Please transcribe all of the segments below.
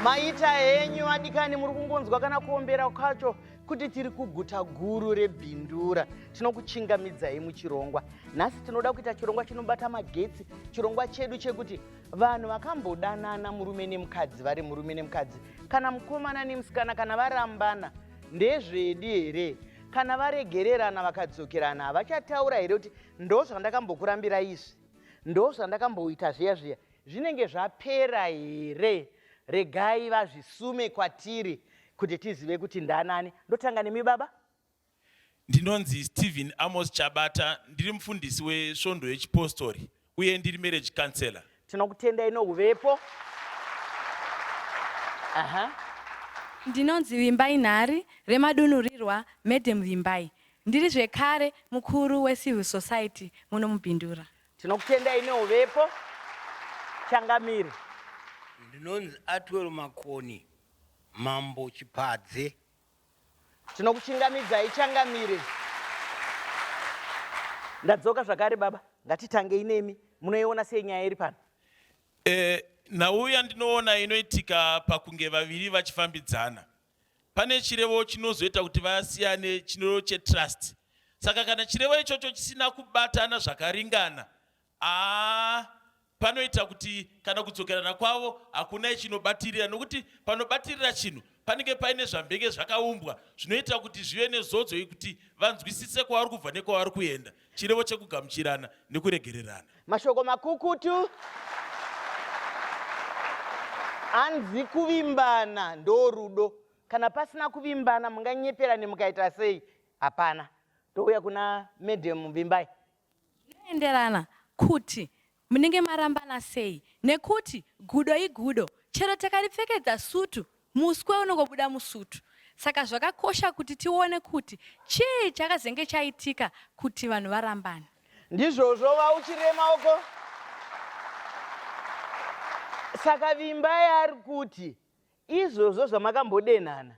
maita henyu vadikani muri kungonzwa kana kuombera kwacho kuti tiri kuguta guru rebhindura tinokuchingamidzai muchirongwa nhasi tinoda kuita chirongwa chinobata magetsi chirongwa chedu chekuti vanhu vakambodanana murume nemukadzi vari murume nemukadzi kana mukomana nemusikana kana varambana ndezvedi here kana varegererana vakadzokerana havachataura here kuti ndo zvandakambokurambira izvi ndo zvandakamboita zviya zviya zvinenge zvapera here regai vazvisume kwatiri kuti tizive kuti ndanani ndotanga nemi baba Ndinonzi Stephen Amos Chabata, ndiri mufundisi wesvondo yechipostori uye ndiri marriage counselor. Tinokutendai nohuvepo. Aha. Ndinonzi Vimbai Nhari remadunhurirwa Madam Vimbai. Ndiri zvekare mukuru weCivil Society muno muBindura. Tinokutendai nohuvepo. Changamire. Ndinonzi Atwell Makoni Mambo Chipadze Tinokuchingamidzai changamire. Ndadzoka zvakare baba, ngatitangei nemi. Munoiona sei nyaya iri pano? Eh, nhau yandinoona inoitika pakunge vaviri vachifambidzana pane chirevo chinozoita kuti vasiyane chino chetrust. Saka kana chirevo ichocho chisina kubatana zvakaringana, Haa panoita kuti kana kudzokerana kwavo hakunai chinobatirira nokuti panobatirira chinhu panenge paine zvambenge zvakaumbwa zvinoita kuti zvive nezodzo yekuti vanzwisise kwavari kubva nekwavari kuenda chirevo chekugamuchirana nekuregererana mashoko makukutu hanzi kuvimbana ndorudo kana pasina kuvimbana munganyeperane mukaita sei hapana touya kuna madam vimbai Zvinoenderana kuti munenge marambana sei nekuti gudo igudo chero takaripfekedza sutu muswe unongobuda musutu saka zvakakosha kuti tione kuti chii chakazenge chaitika kuti vanhu varambane. Ndizvozvo vauchirema uko. Saka Vimbai ari kuti izvozvo zvamakambodenhana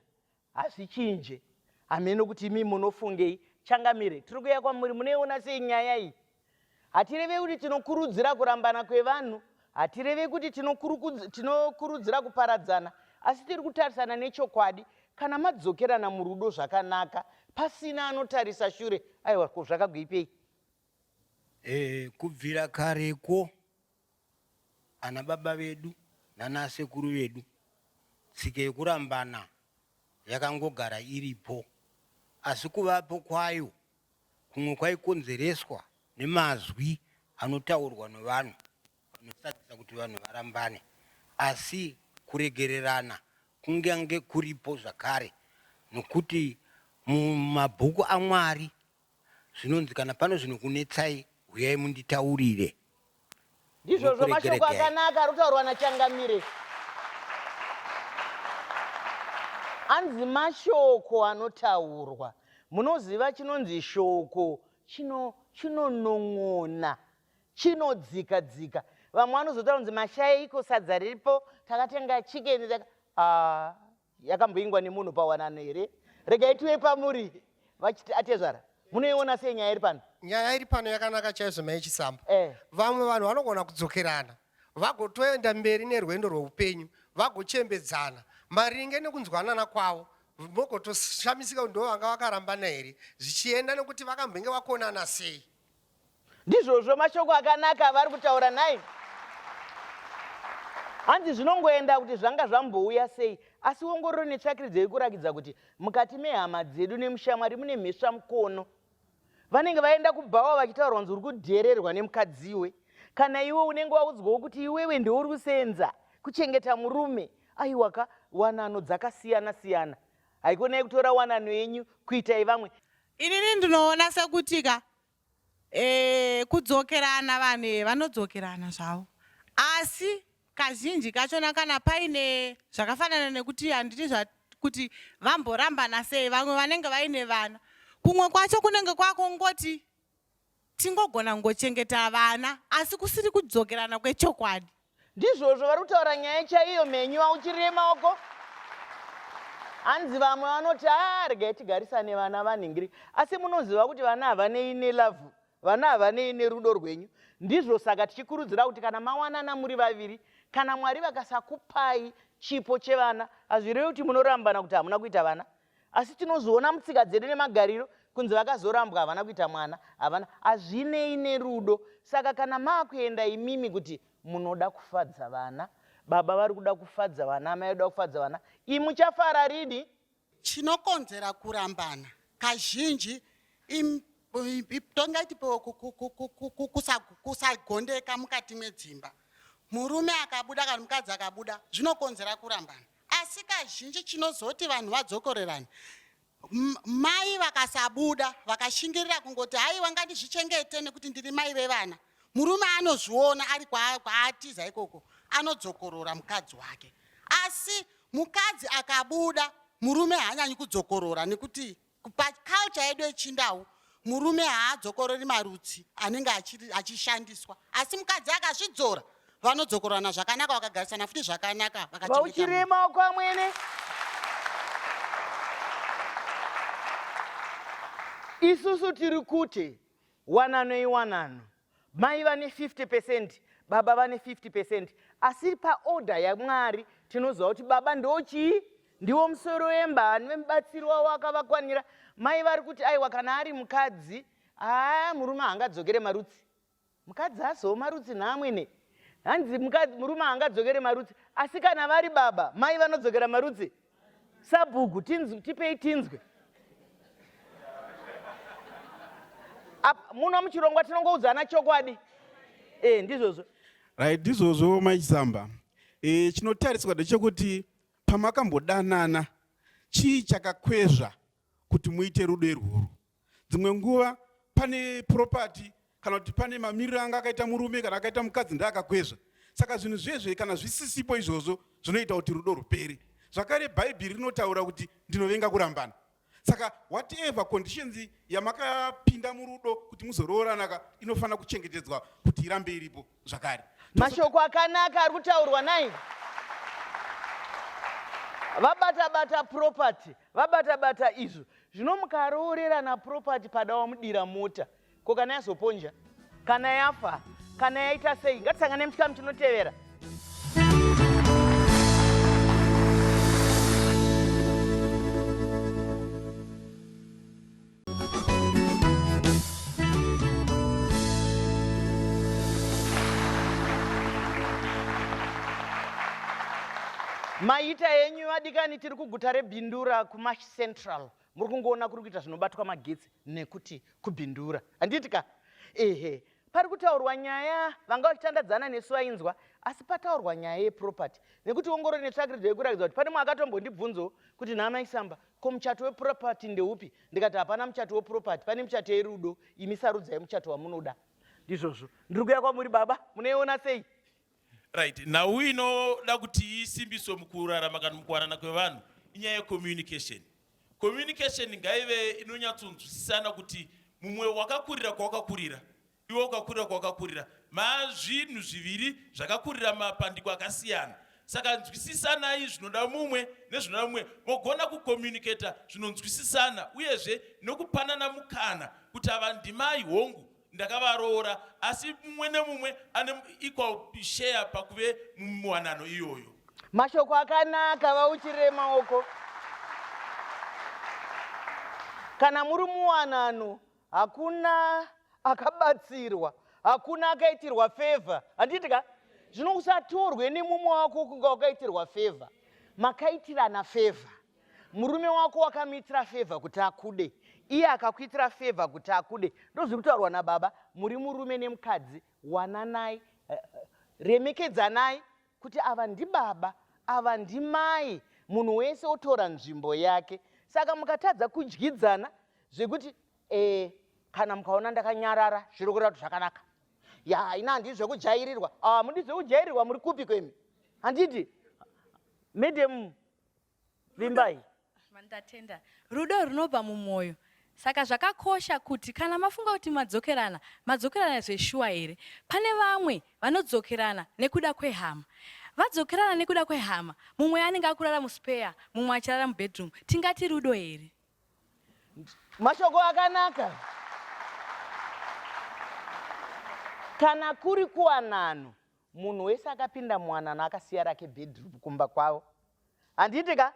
hazvichinje hameno kuti imi munofungei changamire tiri kuya kwamuri munoiona sei nyaya iyi hatireve kuti tinokurudzira kurambana kwevanhu hatireve kuti tinokurudzira kuparadzana asi tiri kutarisana nechokwadi kana madzokerana murudo zvakanaka pasina anotarisa shure aiwa ko zvakagoipei e, kubvira karekwo Ana baba vedu nana sekuru vedu tsika yekurambana yakangogara iripo asi kuvapo kwayo kumwe kwaikonzereswa nemazwi anotaurwa nevanhu anosadzisa kuti vanhu varambane asi kuregererana kungange kuripo zvakare nokuti mumabhuku aMwari Zvinonzi kana pano zvinokunetsai huyai munditaurire. Ndizvozvo mashoko akanaka arikutaurwa naChangamire. Anzi mashoko anotaurwa. Munoziva chinonzi shoko chino chinonon'ona chinodzika dzika. Vamwe vanozotaura kunzi mashayeiko sadza riripo takatenga chicken taka ah. yakamboingwa nemunhu pawanano here regai tive pamuri vachiti atezvara munoiona sei nyaya iri pano nyaya iri pano yakanaka chaizvo mai chisambo eh. vamwe vanhu vanogona kudzokerana vagotoenda mberi nerwendo rweupenyu vagochembedzana maringe nekunzwanana kwavo mogotoshamisika kuti ndovanga vakarambana here zvichienda nekuti vakambenge vakonana sei ndizvozvo mashoko akanaka avari kutaura nhai hanzi zvinongoenda kuti zvanga zvambouya sei asi wongororo netsvakiridzo yekurakidza kuti mukati mehama dzedu nemushamwari mune mhesva mukono vanenge vaenda kubhawa vachitaurwa nzi uri kudhererwa nemukadziwe kana iwe unenge waudzwawo kuti iwewe ndeuri kusenza kuchengeta murume aiwaka wanano dzakasiyana siyana haikonai kutora wanano yenyu kuitai vamwe Inini ndinoona sekuti ka eh, kudzokerana vanhu eh, vanodzokerana zvavo asi kazhinji kachona kana paine zvakafanana nekuti handiti kuti vamborambana sei vamwe vanenge vaine vana kumwe kwacho kunenge kwakongoti Tingogona kungochengeta vana asi kusiri kudzokerana kwechokwadi. Ndizvozvo vari kutaura nyaya chaiyo mhenyu auchirire maoko hanzi vamwe vanoti haa regai tigarisane vana vanhingiri asi munoziva kuti vana havanei nelavhu vana havanei nerudo rwenyu ndizvo saka tichikurudzira kuti kana mawanana muri vaviri kana mwari vakasakupai chipo chevana hazvirevi kuti munorambana kuti hamuna kuita vana asi tinozviona mutsika dzedu nemagariro kunzi vakazorambwa havana kuita mwana havana hazvinei nerudo saka kana maakuenda imimi kuti munoda kufadza vana baba vari kuda kufadza vana amai vari kuda kufadza vana ii muchafara rini chinokonzera kurambana kazhinji tongaiti kusagondeka mukati medzimba murume akabuda kana mukadzi akabuda zvinokonzera kurambana Asi kazhinji chinozoti vanhu vadzokorerane mai vakasabuda vakashingirira kungoti haiwa ngandizvichengete nekuti ndiri mai vevana murume anozviona ari kwaatiza ikoko anodzokorora mukadzi wake asi mukadzi akabuda murume haanyanyi kudzokorora nekuti Paculture yedu yechindau murume haadzokorori marutsi anenge achishandiswa asi mukadzi akazvidzora vanodzokorana zvakanaka vakagarisana futi zvakanaka vakachirema kwamwene isusu tiri kuti wanano iwanano Mai vane 50 percent, baba vane 50 percent. Asi paorder yaMwari tinoziva kuti baba ndochii? Ndiwo musoro wemba, ane mubatsiri wavo akavakwanira. Mai vari kuti aiwa kana ari mukadzi, haa murume haangadzokere marutsi. Mukadzi azowo marutsi nhaamwene. Hanzi murume haangadzokere marutsi, asi kana vari baba, mai vanodzokera marutsi. sabhuku tinzwe tipei tinzwe muno muchirongwa tinongoudzana chokwadi e ndizvozvo right ndizvozvo maisamba e, eh, chinotariswa ndechekuti pamakambodanana chii chakakwezva kuti muite rudo irworwo dzimwe nguva pane property kana kuti pane mamiriro anga akaita murume kana akaita mukadzi ndaakakwezva saka zvinhu zvezve kana zvisisipo izvozvo zvinoita kuti rudo rupere zvakare bhaibheri rinotaura kuti ndinovenga kurambana saka whatever conditions yamakapinda murudo kuti muzoroorana ka inofanira kuchengetedzwa kuti irambe iripo zvakare mashoko akanaka ari kutaurwa nai vabata bata property vabata bata izvo zvino mukaroorerana property pada wamudira mota ko kana yazoponja kana yafa kana yaita sei ngatisangane muchikamu chinotevera maita enyu adikani tiri kuguta rebindura kumash central muri kungoona kuri kuita zvinobatwa magetsi nekuti kubindura handiti ka ehe pari kutaurwa nyaya vanga vachitandadzana nesu vainzwa asi pataurwa nyaya yeproperty nekuti ongoro netsvakiridzo yekuratidzwa kuti pane mwakatombondibvunzo kuti nhaamaisamba Ko muchato weproperty ndeupi? Ndikati hapana muchato weproperty, pane muchato yerudo, imi sarudzai muchato wamunoda. Ndizvozvo ndiri kuya kwamuri baba, munoiona sei? Right, nhau inoda kuti isimbiswe mukurarama kana mukuwanana kwevanhu inyaya yecommunication. Communication ngaive inonyatsonzwisisana kuti mumwe wakakurira kwawakakurira Iwe ukakurira kwawakakurira mazvinhu zviviri zvakakurira mapandiko akasiyana saka nzwisisanai zvinoda mumwe nezvinoda mumwe mogona kucommunicata zvinonzwisisana uyezve nokupanana mukana kuti ava ndimai hongu ndakavaroora asi mumwe nemumwe ane equal share pakuve muwanano iyoyo mashoko akanaka vauchirire maoko kana muri muwanano hakuna akabatsirwa hakuna akaitirwa favor handiti ka zvino usatorwe nemumwe wako kunga wakaitirwa favor makaitirana favor murume wako wakamuitira favor kuti akude iye akakuitira favor kuti akude ndozviri kutaurwa nababa muri murume nemukadzi wananai eh, eh, remekedzanai kuti ava ndibaba ava ndimai munhu wese otora nzvimbo yake saka mukatadza kudyidzana zvekuti eh, kana mukaona ndakanyarara zviri kureva kuti zvakanaka ya haina handii zvekujairirwa ah, mudi zvekujairirwa muri kupi kwemi handiti madam vimbai ndatenda rudo runobva mumwoyo saka zvakakosha kuti kana mafunga kuti madzokerana madzokerana zveshuwa here pane vamwe vanodzokerana nekuda kwehama vadzokerana nekuda kwehama mumwe anenge akurara muspeya mumwe achirara mubedroom tingati rudo here Mashoko akanaka. Kana kuri kuwanano, munhu wese akapinda muwanano akasiya rake bedroom kumba kwavo. Handiti ka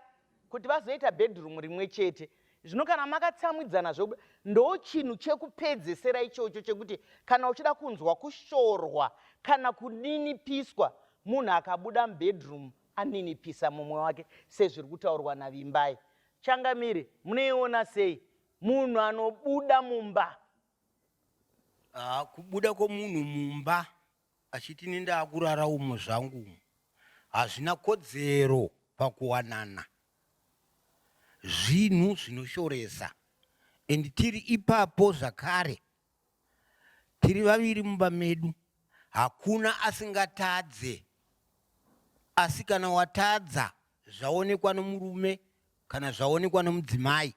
kuti vazoita bedroom rimwe chete. Zvino kana makatsamwidzana zvokuda ndo chinhu chekupedzesera ichocho chekuti kana uchida kunzwa kushorwa kana kuninipiswa munhu akabuda mubedroom aninipisa mumwe wake sezviri kutaurwa naVimbai. Changamire munoiona sei munhu anobuda mumba? Ah, kubuda kwomunhu mumba achiti ini ndaakurara umo zvangu umo hazvina kodzero pakuwanana zvinhu zvinoshoresa and tiri ipapo zvakare Tiri vaviri mumba medu hakuna asingatadze asi kana watadza zvaonekwa nomurume kana zvaonekwa nomudzimai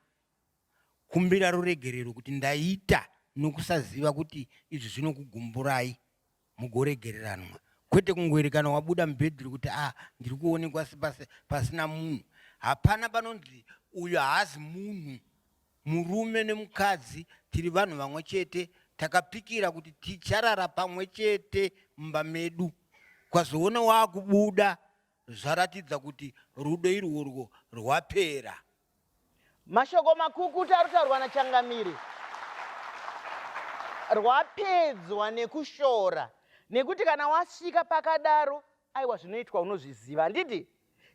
kumbira ruregerero kuti ndaita nokusaziva kuti izvi zvinokugumburai. mugoregereranwa kwete kungoerekana wabuda mubhedhuru kuti a ah, ndiri kuonekwa sepasi pasina munhu hapana panonzi uyo haazi munhu murume nemukadzi tiri vanhu vamwe chete takapikira kuti ticharara pamwe chete mumba medu kwazoona waakubuda zvaratidza kuti rudo irworwo rwapera Mashoko makukutu ari kutaurwa naChangamire rwapedzwa nekushora nekuti kana wasvika pakadaro aiwa zvinoitwa unozviziva handiti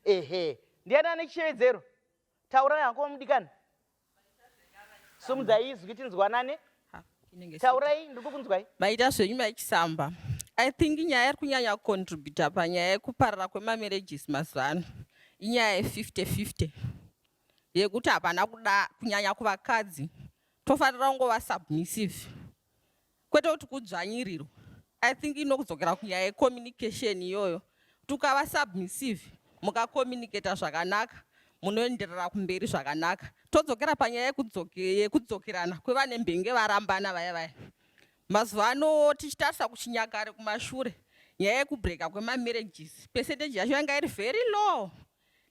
ehe ndiani ane chishevedzero taurai hako mudikani sumudzai izwi tinzwanane taurai ndiri kukunzwai maita zvenyu maichisamba i think nyaya iri kunyanya kucontributa panyaya yekuparara kwemamarriages mazuva ano inyaya ye50 50 yekuti hapana kuda kunyanya kuvakadzi tofanira kungova submissive kwete kuti kudzvanyirirwa i think inokudzokera kunyaya yecommunication iyoyo tukava submissive mukakomunicata zvakanaka munoenderera kumberi zvakanaka todzokera panyaya yekudzokerana kwevane mbenge varambana vaya vaya mazuva ano tichitarisa kuchinyakare kumashure nyaya yekubreka kwemamarriages percentage yacho yanga iri very low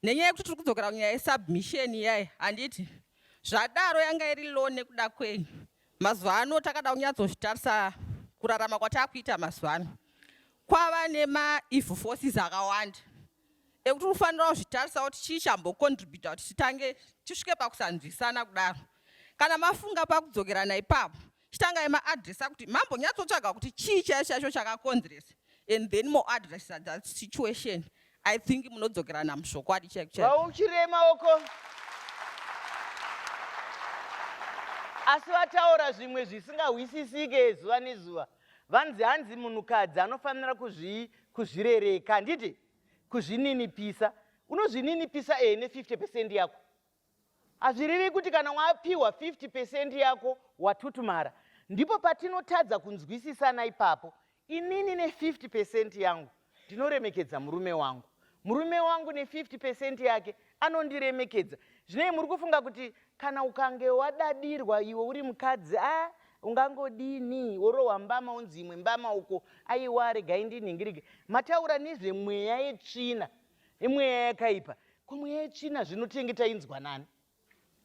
nenyaya yekuti tiri kudzokera kunyaya yesubmission iyai handiti zvadaro yanga iri low nekuda kwenyu Mazuva ano takada kunyatsozvitarisa kurarama kwatakuita mazuva ano kwava nemaeve forces akawanda ekuti unofanira kuzvitarisa kuti chii chambocontributa kuti titange tisvike pakusanzwisana kudaro kana mafunga pakudzokerana ipapo chitangai maadressa kuti mambonyatsotsvaga kuti chii chaicho chaicho chakakonzeresa and then moadressa that situation i think munodzokerana muzvokwadi chaikuchirema uko asi vataura zvimwe zvisingahwisisike zuva nezuva vanzi hanzi munhukadzi anofanira kuzvirereka handiti kuzvininipisa unozvininipisa ee ne 50 pecent yako Hazvirevi kuti kana wapiwa 50 percent yako watutumara. Ndipo patinotadza kunzwisisana ipapo. Inini ne 50 percent yangu ndinoremekedza murume wangu. Murume wangu ne 50 percent yake anondiremekedza. Zvinei muri kufunga kuti kana ukange wadadirwa iwe uri mukadzi ah ungangodini worohwa mbama unzi imwe mbama uko aiwa regai ndinhingirike. Mataura nezvemweya yetsvina. imweya yakaipa ko mweya yetsvina zvino tenge tainzwa nani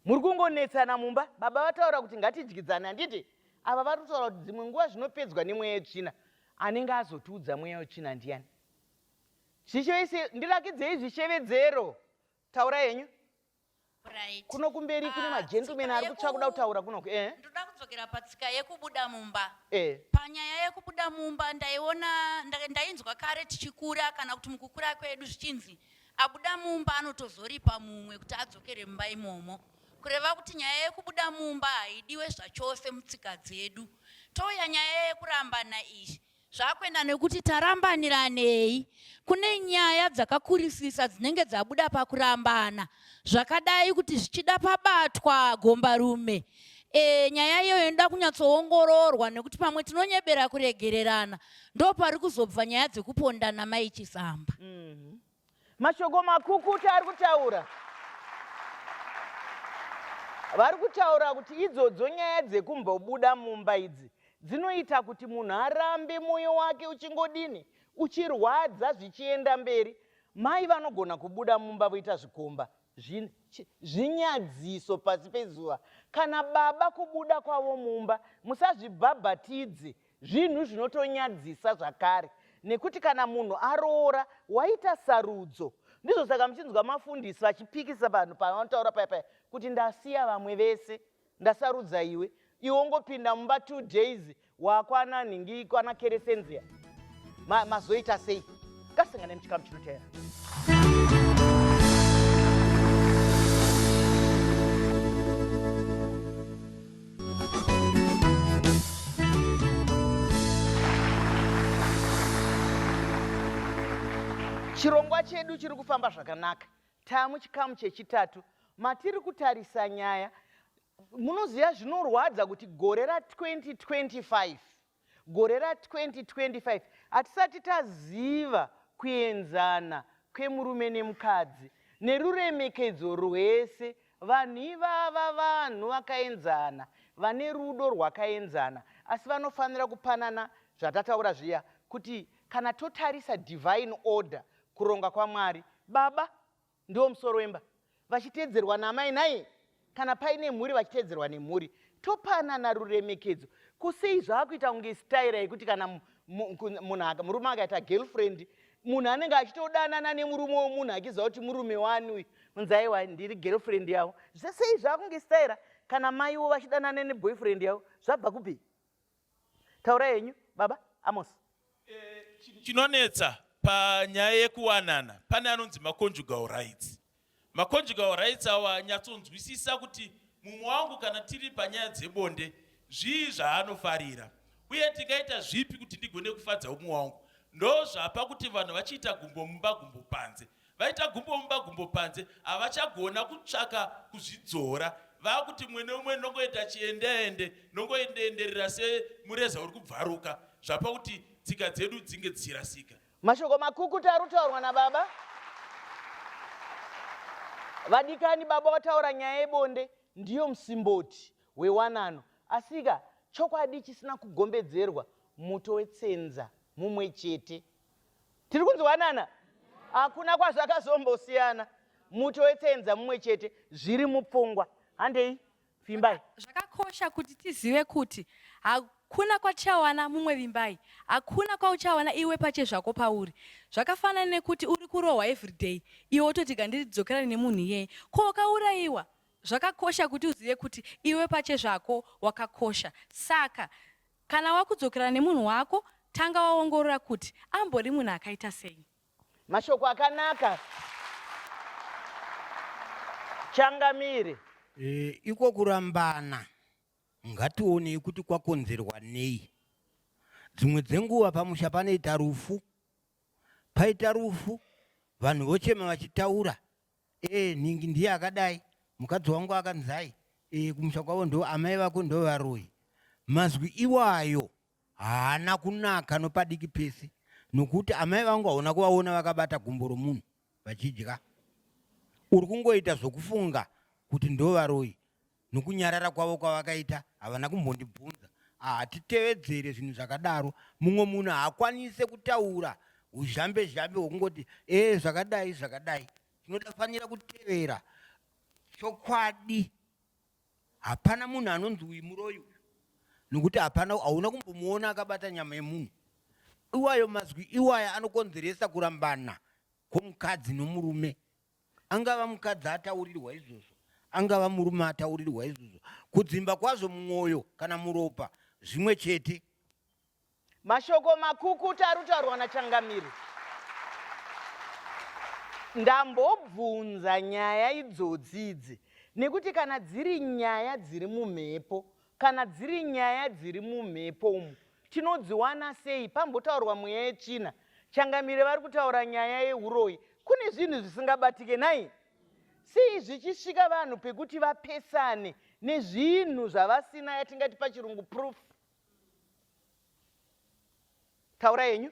muri kungonetsana mumba baba vataura kuti ngatidyidzane handiti ava vari kutaura kuti dzimwe nguva zvinopedzwa nemweya yetsvina anenge azotiudza mweya wetsvina ndiyani zvichevese ndirakidzei zvishevedzero taura henyu Right. Kuno kumberi uh, kune ah, magentleman ari kutsva kuda kutaura kunoku. Eh. Ndoda kudzokera patsika yekubuda mumba. Eh. Panyaya yekubuda mumba ndaiona ndainzwa kare tichikura kana kuti mukukura kwedu zvichinzi abuda mumba anotozoripa mumwe kuti adzokere mumba imomo. Kureva kuti nyaya yekubuda mumba haidiwe zvachose mutsika dzedu. Touya nyaya yekurambana izvi. Zvakuenda nekuti tarambaniranei. Kune nyaya dzakakurisisa dzinenge dzabuda pakurambana zvakadai kuti zvichida pabatwa gombarume e, nyaya iyoyo inoda kunyatsoongororwa nekuti pamwe tinonyebera kuregererana ndo pari kuzobva nyaya dzekupondana mai chisamba mm -hmm. Mashoko makukutu ari kutaura vari kutaura kuti idzodzo nyaya dzekumbobuda mumba idzi dzinoita kuti munhu arambe mwoyo wake uchingodini uchirwadza zvichienda mberi mai vanogona kubuda mumba voita zvikomba zvinyadziso pasi pezuva kana baba kubuda kwavo mumba musazvibhabhatidze Zvinhu zvinotonyadzisa zvakare nekuti kana munhu aroora waita sarudzo ndizvo saka muchinzwa mafundisi vachipikisa vanhu pavanotaura paya paya kuti ndasiya vamwe vese ndasarudza iwe iwe ungopinda mumba two days wakwana nhingi kwana keresenziya mazoita ma sei ngasangane muchikamu chinoteera chirongwa chedu chiri kufamba zvakanaka tamu chikamu chechitatu matiri kutarisa nyaya munoziva zvinorwadza kuti gore ra 2025 Gore ra 2025 hatisati taziva kuenzana kwemurume nemukadzi neruremekedzo rwese. Vanhu ivava vanhu vakaenzana, vane rudo rwakaenzana asi vanofanira kupanana zvatataura zviya kuti kana totarisa divine order, kuronga kwaMwari, baba Ndiwo musoro wemba vachiteedzerwa namai nhai kana paine mhuri vachiteedzerwa nemhuri topanana ruremekedzo kusei zvaakuita kunge istaira yekuti kana munhu murume akaita girlfriend munhu anenge achitodanana nemurume wemunhu achiziva kuti murume wani uyu unzi aiwa ndiri girlfriend yavo zvesei zvaakunge istaira kana maiwo vachidanana neboyfriend yavo zvabva kupi Taura henyu baba Amos. Chinonetsa panyaya yekuwanana pane anonzi maconjugal rights. Maconjugal rights awa nyatsonzwisisa kuti mumwe wangu kana tiri panyaya dzebonde zvii zvaanofarira uye tingaita zvipi kuti ndigone kufadza umwe wangu. Ndozvapa kuti vanhu vachiita gumbo mumba gumbo panze. vaita gumbo mumba gumbo panze havachagona kutsvaka kuzvidzora vakuti mumwe neumwe nongoita chiendeende nongoendeenderera semureza uri kubvaruka zvapa kuti tsika dzedu dzinge dzichirasika mashoko makukuta ari kutaurwa nababa vadikani baba wataura nyaya yebonde ndiyo musimboti wewanano asika chokwadi chisina kugombedzerwa muto wetsenza mumwe chete tiri kunzwanana hakuna kwazvakazombosiyana muto wetsenza mumwe chete zviri mupfungwa handei vimbai zvakakosha kuti tizive kuti hakuna kwatichawana mumwe vimbai hakuna kwauchawana iwe pache zvako pauri zvakafanana nekuti uri kurohwa everyday iwe wototi gandiridzokerane nemunhu iyeye ko wakaurayiwa zvakakosha kuti uzive kuti iwe pache zvako wakakosha saka Kana wakudzokera nemunhu wako, tanga waongorora kuti ambori munhu akaita sei. Mashoko akanaka. Changamire. E, iko kurambana ngationei kuti kwakonzerwa nei. Dzimwe dzenguva pamusha panoita rufu, paita rufu vanhu vochema vachitaura Eh, nhingi ndiye akadai mukadzi wangu akanzai eh, kumusha kwavo ndo amai vako ndo varoyi mazwi iwayo haana kunaka nopadiki pese nokuti amai vangu haona kuvaona vakabata gumbo romunhu vachidya uri kungoita zvokufunga kuti ndo varoyi nokunyarara kwavo kwavakaita havana kumbondibvunza hatitevedzere zvinhu zvakadaro mumwe munhu haakwanise kutaura uzhambe zhambe hwokungoti ee eh, zvakadai zvakadai tinofanira kutevera chokwadi hapana munhu anonzi uyu muroyi uyu nokuti hapana hauna kumbomuona akabata nyama yemunhu iwayo mazwi iwaya anokonzeresa kurambana kwomukadzi nomurume Angava mukadzi ataurirwa izvozvo, angava murume ataurirwa izvozvo, kudzimba kwazvo mumwoyo kana muropa zvimwe chete. Mashoko makukuta ari kutaurwa naChangamire. Ndambobvunza nyaya idzodzi idzi nekuti kana dziri nyaya dziri mumhepo Kana dziri nyaya dziri mumhepo umu tinodziwana sei? Pambotaurwa mweya yetsvina. Changamire vari kutaura nyaya yeuroyi. Kune zvinhu zvisingabatike nhai? Sei zvichisvika vanhu pekuti vapesane nezvinhu zvavasina yatingati pachirungu proof? Taura yenyu.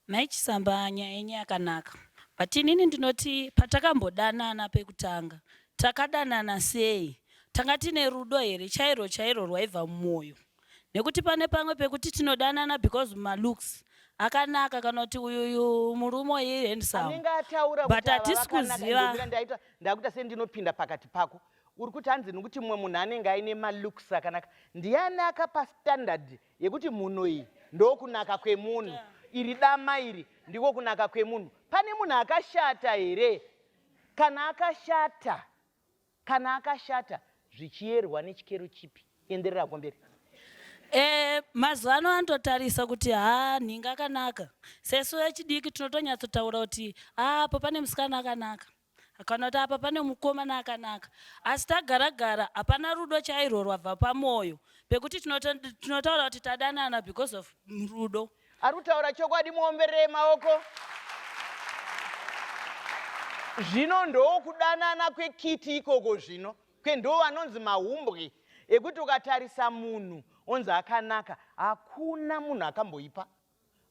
Nhai Chisamba nyaya yenyu yakanaka but inini ndinoti patakambodanana pekutanga takadanana sei? Tanga tine rudo here chairwo chairwo rwaibva mumoyo? Nekuti pane pamwe pekuti tinodanana because ma looks akanaka kana kuti uyu uyu murume uyu i handsome anenge ataura but kuti ava hatisi vakanaka kuziva ndomira ndaita ndakuita sendinopinda pakati pako uri kuti hanzi nekuti mumwe munhu anenge aine malooks akanaka ndiani akapa standard yekuti mhuno iyi ndokunaka kwemunhu iri dama iri ndiko kunaka kwemunhu pane munhu akashata here kana akashata kana akashata zvichiyerwa nechikero chipi enderera kumberi Eh, mazuva ano anototarisa kuti ha nhinga akanaka sesu vechidiki tinotonyatsotaura kuti apo pane musikana akanaka Akaona kuti apa pane mukomana akanaka asi tagara gara hapana rudo chairwo rwabva pamwoyo pekuti tinotaura kuti tadanana because of rudo. Ari kutaura chokwadi muomberere maoko. Zvino ndokudanana kwekiti ikoko zvino kwendiwo vanonzi mahumbwe ekuti ukatarisa munhu onzi akanaka hakuna munhu akamboipa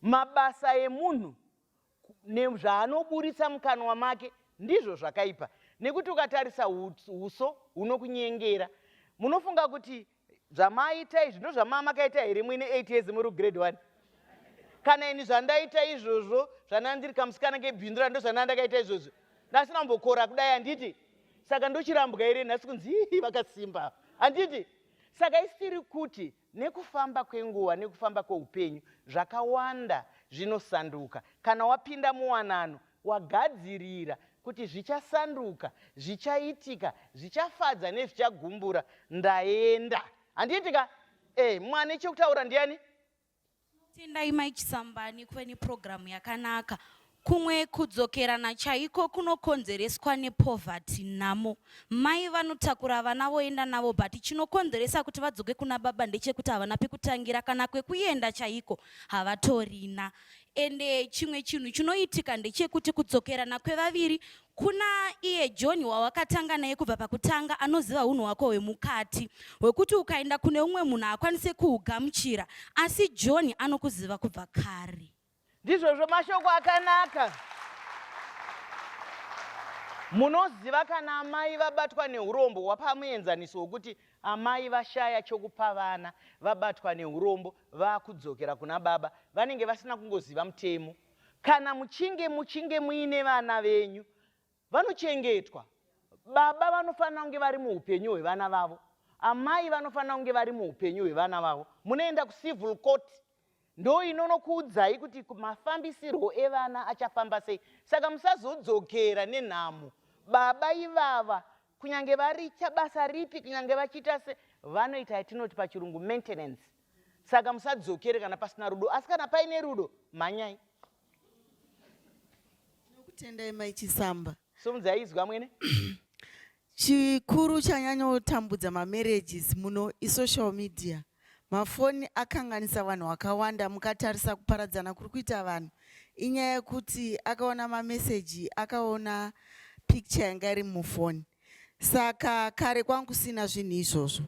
mabasa emunhu nezvaanoburitsa mukanwa make ndizvo zvakaipa nekuti ukatarisa uso hunokunyengera munofunga kuti zvamaita izvi ndo zvamamakaita here muine 8 years muri grade 1 kana ini zvandaita izvozvo zvanandiri kamusikana kebhindura ndo zvanandakaita izvozvo ndasina kumbokora kudai handiti saka ndochirambwa here nhasi kunzi vakasimba handiti saka isiri kuti Nekufamba kwenguva nekufamba kweupenyu, zvakawanda zvinosanduka. Kana wapinda muwanano, wagadzirira kuti zvichasanduka, zvichaitika, zvichafadza nezvichagumbura, ndaenda. Handiitika? Eh, mwane chekutaura ndiani? Tendai Mai Chisambani kuve nepurogiramu yakanaka. Kumwe kudzokerana chaiko kunokonzereswa nepoverty, nhamo. Mai vanotakura vana voenda navo but chinokonzeresa kuti vadzoke kuna baba ndechekuti havana pekutangira kana kwekuenda chaiko havatorina. Ende chimwe chinhu chinoitika ndechekuti kudzokerana kwevaviri Kuna iye John wawakatanga naye kubva pakutanga anoziva hunhu hwako hwemukati hwekuti ukaenda kune umwe munhu haakwanise kuhugamuchira asi John anokuziva kubva kare. Ndizvozvo mashoko akanaka. Munoziva kana amai vabatwa neurombo wapa muenzaniso wokuti amai vashaya chokupa vana vabatwa neurombo vakudzokera kuna baba vanenge vasina kungoziva mutemo Kana muchinge muchinge muine vana venyu vanochengetwa, baba vanofanira kunge vari muupenyu hwevana vavo, amai vanofanira kunge vari muupenyu hwevana vavo. Munoenda kucivil court ndo inonokuudzai kuti mafambisirwo evana achafamba sei. Saka musazodzokera nenhamo. Baba ivava kunyange varicha basa ripi kunyange vachiita se vanoita yatinoti pachirungu maintenance. saka musadzokere kana pasina rudo asi kana paine rudo mhanyai tinokutendai mai chisamba somudzai izwi amwene chikuru chanyanyotambudza mamarriages muno isocial media mafoni akanganisa vanhu vakawanda mukatarisa kuparadzana kuri kuita vanhu inyaya yekuti akaona mameseji akaona picture yanga iri mufoni Saka kare kwanga kusina zvinhu izvozvo.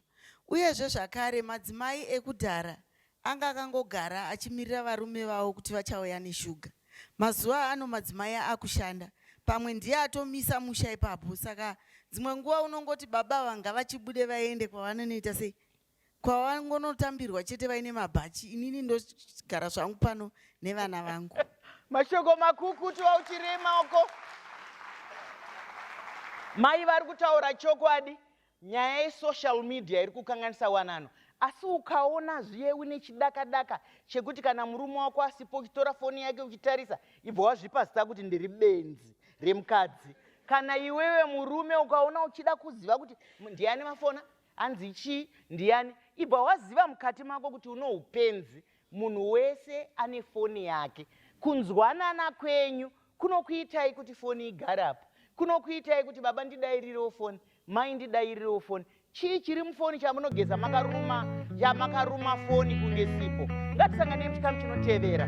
Uyezve zvakare madzimai ekudhara anga akangogara achimirira varume vavo kuti vachauya neshuga. Mazuva ano madzimai akushanda, pamwe ndiye atomisa musha ipapo. Saka dzimwe nguva unongoti baba vanga vachibude vaende kwavanonoita sei kwawangonotambirwa chete vaine mabhachi inini ndogara zvangu pano nevana vangu mashoko makukutu auchirema uko mai vari kutaura chokwadi nyaya yesocial media iri kukanganisa wanano asi ukaona zviye une chidakadaka chekuti kana murume wako asipo uchitora foni yake uchitarisa ibva wazvipa zita kuti ndiri benzi remukadzi kana iwewe murume ukaona uchida kuziva kuti ndiani mafona Hanzi chii? Ndiani? Ibva waziva mukati mako kuti unoupenzi. Munhu wese ane foni yake. Kunzwanana kwenyu kunokuitai kuti foni igare apa. Kunokuitai kuti baba ndidairirewo foni, mai ndidairirewo foni. Chii chiri mufoni chamunogeza makaruma, chamakaruma foni kunge sipo. Ngatisanganei muchikamu chinotevera.